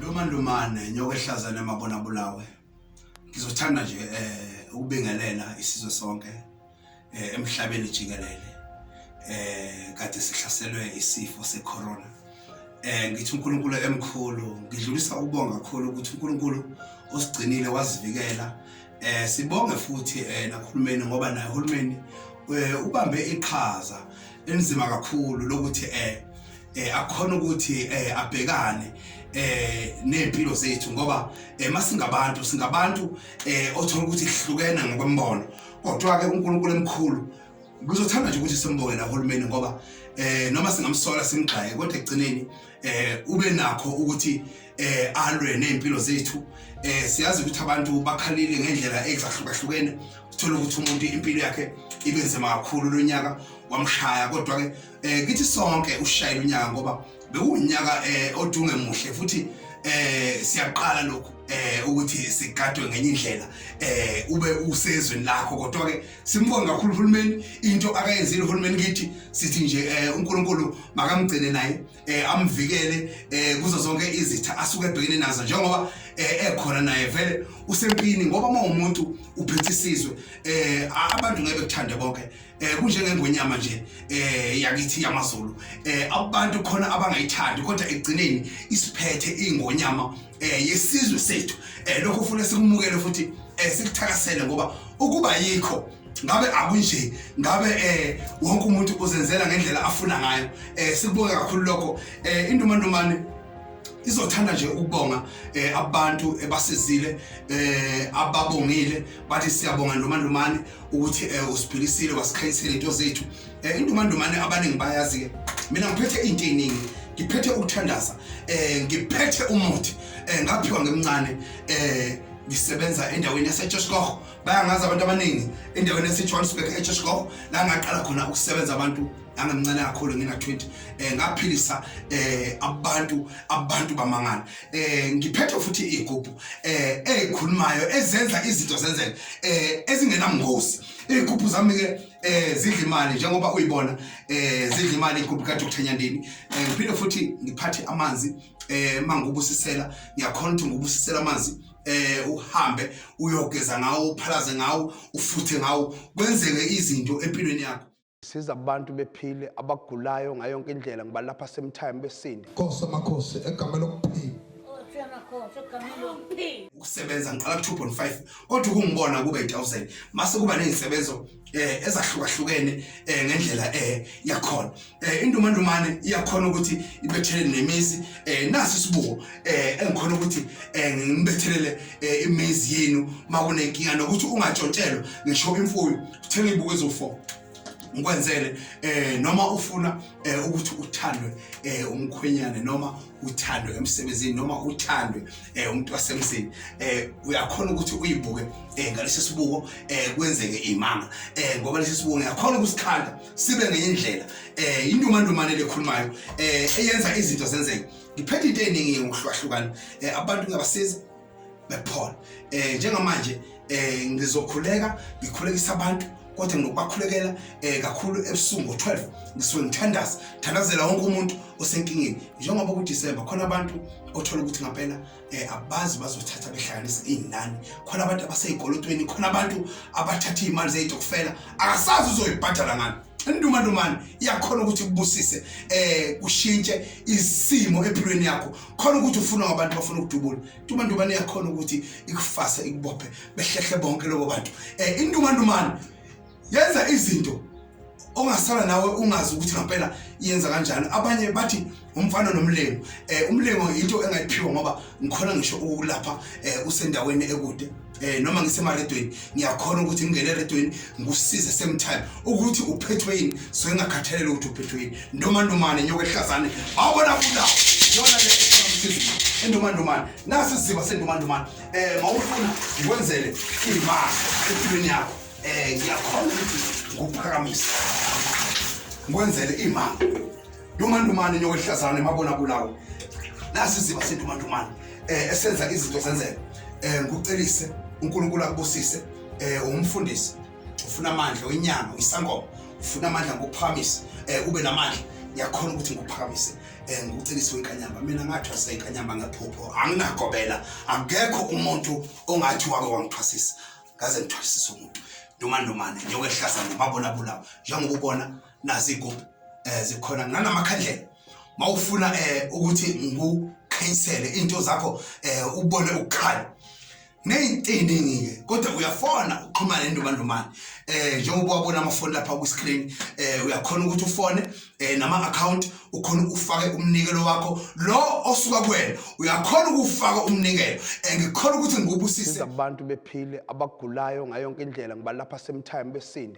Luma lumane nyoka ehlazana emabona bulawe. Ngizothanda nje eh ukubingelela isizwe sonke eh emhlabeni jikelele. Eh kade sihlaselwe isifo secorona. Eh ngithi uNkulunkulu emkhulu, ngidlulisa ukubonga kakhulu ukuthi uNkulunkulu usigcinile wasivikela Eh sibonge futhi eh nakhulumeni ngoba naye uhulumeni eh, ubambe iqhaza enzima kakhulu lokuthi eh, eh akhona ukuthi eh abhekane eh nezimpilo zethu ngoba eh, masingabantu singabantu eh othola ukuthi sihlukene ngokwembono kodwa ke uNkulunkulu emkhulu kuzothanda nje ukuthi simbonge nahulumeni ngoba eh noma singamsola simgxaye kodwa ekugcineni eh ube nakho ukuthi eh alwe nezimpilo zethu eh siyazi ukuthi abantu bakhalile ngendlela ezahlukahlukene uthola ukuthi umuntu impilo yakhe ibe nzima kakhulu lonyaka wamshaya kodwa ke eh kithi sonke ushayile unyaka ngoba bewunyaka eh odunge muhle futhi eh siyaqala lokhu eh ukuthi sigadwe ngenye indlela eh ube usezweni lakho kodwa ke Simbonga kakhulu uhulumeni into akayenzile uhulumeni kithi sithi nje eh, uNkulunkulu makamgcine naye eh, amvikele eh, kuzo zonke izitha asuke ebhekene nazo njengoba ekhona naye vele usempini ngoba uma umuntu uphethe isizwe abantu ngeke bekuthande bonke kunjengengonyama nje yakithi yamaZulu abantu khona abangayithandi kodwa ekugcineni isiphethe ingonyama eh yesizwe sethu eh lokho ufuna sikumukele futhi eh sikuthakasele ngoba ukuba yikho ngabe akunje ngabe eh wonke umuntu uzenzela ngendlela afuna ngayo eh sikubonga kakhulu lokho eh indumandumane izothanda nje ukubonga eh abantu ebasizile eh ababongile bathi siyabonga noma nomani ukuthi eh usiphilisile wasikhanyisela into zethu eh indumandumane abaningi bayazi ke mina ngiphethe into eningi ngiphethe ukuthandaza eh ngiphethe umuthi eh ngaphiwa ngemncane eh ngisebenza endaweni yaseJoshkoch bayangazi abantu abaningi endaweni yaseJohannesburg eJoshkoch la ngaqala khona ukusebenza abantu angamncane kakhulu ngina 20 eh ngaphilisa eh abantu abantu bamangana eh ngiphethe futhi igubhu eh ezikhulumayo ezenza izinto zenzeke eh ezingenamngozi igubhu zami ke eh zidla imali njengoba uyibona eh zidla imali igubhu ka Dr Nyandini eh ngiphinde futhi ngiphathe amanzi eh mangubusisela ngiyakhona ukuthi ngubusisela amanzi eh uhambe uyogeza ngawo uphalaze ngawo ufuthe ngawo kwenzeke izinto empilweni yakho siza abantu bephile abagulayo ngayo yonke indlela ngibalapha same time besindi Nkosi amakhosi egameni lokuphila ukusebenza ngiqala ku-2.5 kodwa ukungibona kube 1000 mase kuba nezisebenzo eh ezahlukahlukene eh ngendlela eh yakhona eh indumandumane iyakhona ukuthi ibethelele nemizi eh nasi sibuko eh engikhona ukuthi eh ngibethelele eh, imizi yenu makunenkinga nokuthi ungatshontshelwa ngisho imfuyo uthenge ibuko ezofo ngikwenzele eh noma ufuna eh ukuthi uthandwe eh umkhwenyane noma uthandwe emsebenzini noma uthandwe eh umuntu wasemzini eh uyakhona ukuthi uyibuke eh ngalesi sibuko eh kwenzeke imanga eh ngoba lesi sibuko ngiyakhona ukusikhanda sibe ngenye indlela eh indumandumane lekhulumayo eh eyenza izinto zenzeke ngiphethe into eningi ngokuhlukahlukana eh abantu ngabasiza bephole eh njengamanje eh ngizokhuleka ngikhulekisa abantu kodwa nginokubakhulekela eh kakhulu ebusuku ngo12 ngisuke ngithandaza thandazela wonke umuntu osenkingeni njengoba ku December khona abantu othola ukuthi ngampela eh abazi bazothatha behlanganisa izinani khona abantu abasezikolotweni khona abantu abathatha imali zezitokufela akasazi uzoyibhadala ngani induma ndumani iyakhona ukuthi kubusise eh kushintshe isimo empilweni yakho khona ukuthi ufuna abantu bafuna ukudubula intumandumane yakhona ukuthi ikufase ikubophe behlehle bonke lobo bantu um intumandumane yenza izinto ongasala nawe ungazi ukuthi ngampela yenza kanjani abanye bathi umfana nomlengo um umlengo yinto engayiphiwa ngoba ngikhona ngisho ukulapha um usendaweni ekude eh noma ngisemaredweni ngiyakhona ukuthi ngingene eredweni ngikusize same time ukuthi uphethwe yini so engakhathalele ukuthi uphethwe yini ndomandomane nyoka ehlazane awubona kulawo yona le endomandomane nasi siziba sendomandomane eh mawufuna ngikwenzele imali empilweni yakho eh ngiyakhona ukuthi ngikuphakamise ngikwenzele imali Ndumandumane nyoka ehlazana emabona kulawo. Nasi siziba sindumandumane eh esenza izinto zenzeke. Eh ngikucelise uNkulunkulu akubusise eh umfundisi ufuna amandla wenyanga isangoma ufuna amandla ngokuphakamisa eh ube namandla ngiyakhona ukuthi ngikuphakamise eh ngikucelise wenkanyamba mina ngathwasa inkanyamba ngephupho anginagobela akekho umuntu ongathi wake wangithwasisa ngaze ngithwasisa umuntu noma nomane njengokuhlaza ngomabona bulawo njengoba ubona naziko eh zikhona nanamakhandlela mawufuna eh ukuthi ngikukhanyisele into zakho eh ubone ukukhala neyintini ngike kodwa uyafona uxhumane nendumandumane eh njengoba wabona amafoni lapha ku screen eh uyakhona ukuthi ufone eh nama account ukhona ufake umnikelo wakho lo osuka kuwena uyakhona ukufaka umnikelo eh ngikhona ukuthi ngikubusise abantu bephile abagulayo ngayonke indlela ngibalapha same time besinde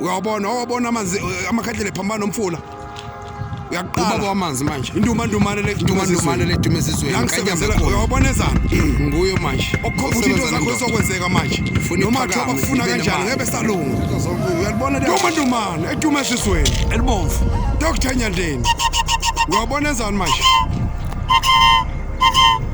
uyawabona wawabona amanzi eh, amakhandlela ephambana nomfula uyaqala ubaba wamanzi manje indumandumane le indumandumane le dume sizwe yangisebenzela uyawabona ezana nguyo manje okukhomba into zakho sokwenzeka manje noma kuthiwa bakufuna kanjani ngebe salunga uyalibona le indumandumane edume sizweni elibomvu Dr Nyandeni uyawabona ezana manje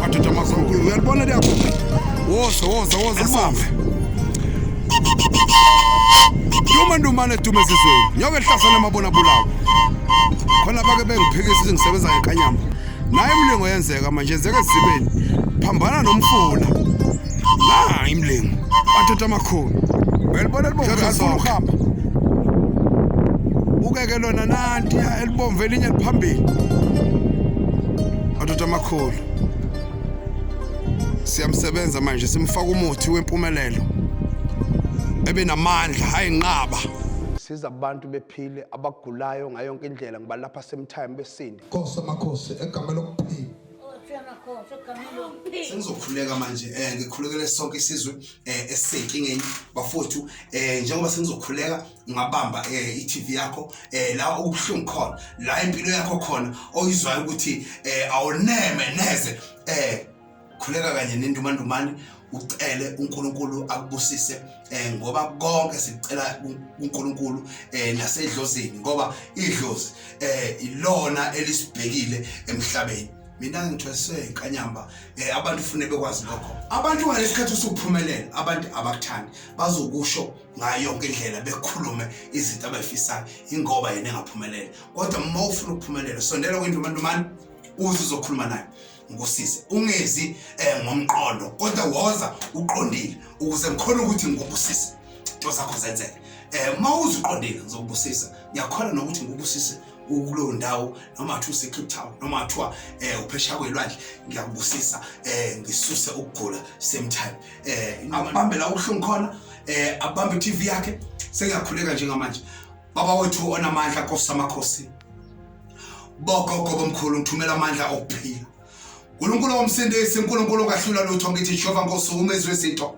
Madoda amakhulu, uyalibona liyabo. Woza, woza, woza sambe. Duma ndumane dume ezizweni. Nyoke ehlasana emabona bulawo. Khona bake bengiphikisa ukuthi ngisebenza ngenkanyama. Naye imlingo yenzeka manje yenzeka ezibeni. Phambana nomfula. Na imlingo. Madoda amakhulu. Uyalibona libona Dlodla, zifuna zonke. ukuhamba. Ukeke lona nanti. Ibomvu elinye liphambili. Madoda amakhulu. Siyamsebenza manje simfaka umuthi wempumelelo. Ebe namandla, hayi nqaba. siza abantu bephile abagulayo ngayo yonke indlela ngibalapha semtime besinde Nkosi amakhosi egama lokuphila. sengizokhuleka manje eh ngikhulekele sonke isizwe eh esisenkingeni bafowethu eh njengoba sengizokhuleka ungabamba eh iTV yakho eh la okubuhlungu khona la impilo yakho khona oyizwayo ukuthi eh awuneme neze eh khuleka kanye nendumandumane ucele uNkulunkulu akubusise eh ngoba konke sicela uNkulunkulu eh nasedlozini ngoba idlozi eh ilona elisibhekile emhlabeni mina ngithweswe inkanyamba eh abantu ufune bekwazi lokho abantu ngalesikhathi usuphumelela abantu abakuthandi bazokusho ngayo yonke indlela bekhulume izinto abayifisayo ingoba yena engaphumelele kodwa uma ufuna ukuphumelela sondela kwindlu mantumane uze uzokhuluma naye ngikusize ungezi um ngomqondo kodwa woza uqondile ukuze ngikhona ukuthi ngikubusise into zakho zenzeke um uma uze uqondile ngizokubusisa ngiyakhona nokuthi ngikubusise ukulowo ndawo noma kuthiwa usecape town noma kuthiwa um eh, uphesha kwelwandle ngiyakubusisa um ngisuse ukugula same time eh abambe la uhlungu khona eh abambe TV yakhe sengiyakhuleka njengamanje baba wethu onamandla Nkosi amakhosi bogogo bomkhulu ngithumela amandla okuphila uNkulunkulu womsindisi uNkulunkulu ongahlula lutho ngithi Jehova Nkosi umezwe izinto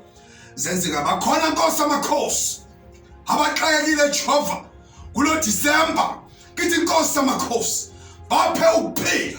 zenzeka bakhona Nkosi amakhosi abaxakekile Jehova kulo December ngithi Nkosi amakhosi baphe ukuphila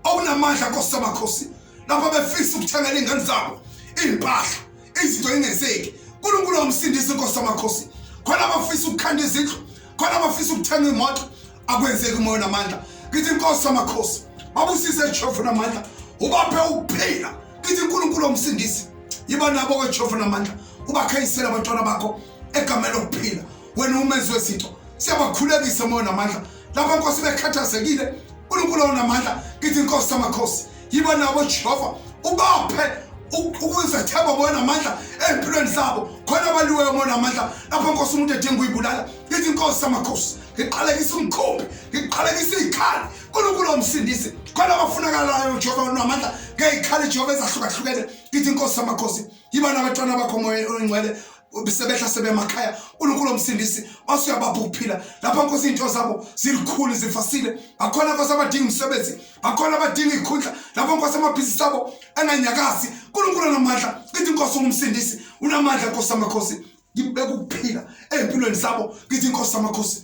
okunamandla Nkosi amakhosi lapho befisa ukuthengela iy'ngane zabo iy'mpahla izinto ingenzeki unkulunkulu wamsindisa inkosi amakhosi khona abafisa ukukhanda izindlu khona abafisa ukuthenga imoto akwenzeki umoya namandla ngithi inkosi amakhosi babusise jehova namandla ubaphe ukuphila ngithi unkulunkulu wamsindisi yiba nabo kwejehova namandla ubakhayisele abantwana bakho egameni lokuphila wena umenzi wezinto siyabakhulekisa moya namandla lapho nkosi bekhathazekile unkulunkulu onamandla ngithi nkosi samakhosi yiba nabo jehova ubaphe ukuzethemba bona amandla ezimpilweni zabo khona abaliweyo umona amandla lapho nkosi umuntu edinga uyibulala ngithi inkosi samakhosi ngiqalekisa umkhumbi ngiqalekisa izikhali uNkulunkulu omsindisi khona abafunakalayo uJehova unamandla ngezikhali eJehova ezahlukahlukene ngithi inkosi samakhosi yiba nabantwana bakho moya oyingcwele sebehla sebemakhaya uNkulunkulu omsindisi osuyabapha ukuphila lapha nkosi into zabo zilikhulu zifasile bakhona nkosi abadinga umsebenzi bakhona abadinga ikhundla lapha nkosi amabhizinisi abo anganyakazi uNkulunkulu namandla ithi inkosi ungumsindisi unamandla nkosi amakhosi ngibeka ukuphila empilweni zabo ngithi inkosi amakhosi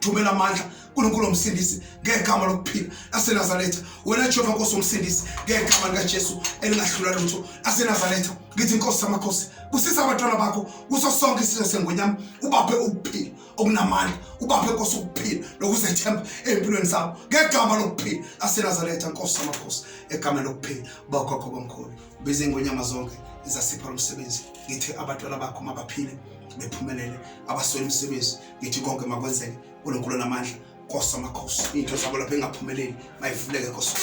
thumela amandla uNkulunkulu omsindisi ngegama lokuphila laseNazaretha wena Jehova Nkosi omsindisi ngegama likaJesu elingahlula lutho laseNazaretha ngithi inkosi yamakhosi kusisa abantwana bakho kuso sonke isizwe sengonyama ubaphe ukuphila okunamandla ubaphe inkosi ukuphila nokuzethemba empilweni zabo ngegama lokuphila laseNazaretha nkosi yamakhosi egama lokuphila bakwakho bamkhulu biza ingonyama zonke izasipha lomsebenzi ngithi abantwana bakho mabaphile bephumelele abaswele imisebenzi ngithi konke makwenzeke uNkulunkulu namandla Nkosi amakhosi into zabo lapha engaphumeleli mayivuleke Nkosi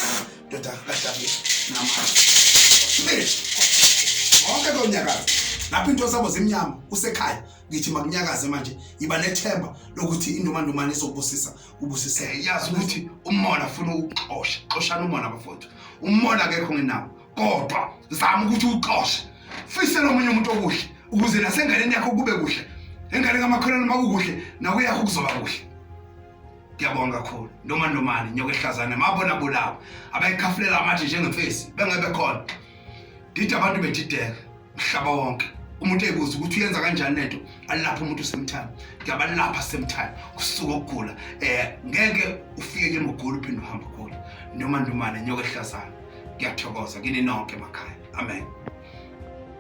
ndoda kaDavid namandla wonke konyakaza lapho into zabo zimnyama usekhaya ngithi makunyakaze manje yiba nethemba lokuthi indumandumane izokubusisa ubusiseke yazi ukuthi umona ufuna ukuxosha xoshana umona bafowethu umona akekho ngenawo kodwa zama ukuthi uxoshe fisela omunye umuntu okuhle ukuze nasenganeni yakho kube kuhle engane kamakholwane uma kukuhle nakuyakho kuzoba kuhle ngiyabonga kakhulu noma nomani nyoka ehlazane mabona bulawa abayikhafulela amathi njengemfesi bengebe khona didi abantu bedideka mhlaba wonke umuntu ebuza ukuthi uyenza kanjani lento alapha umuntu usemthana ngiyabalapha semthana kusuka ukugula eh ngeke ufike ke mugula uphinde uhamba ugula noma ndomana nyoka ehlazana ngiyathokoza kini nonke emakhaya amen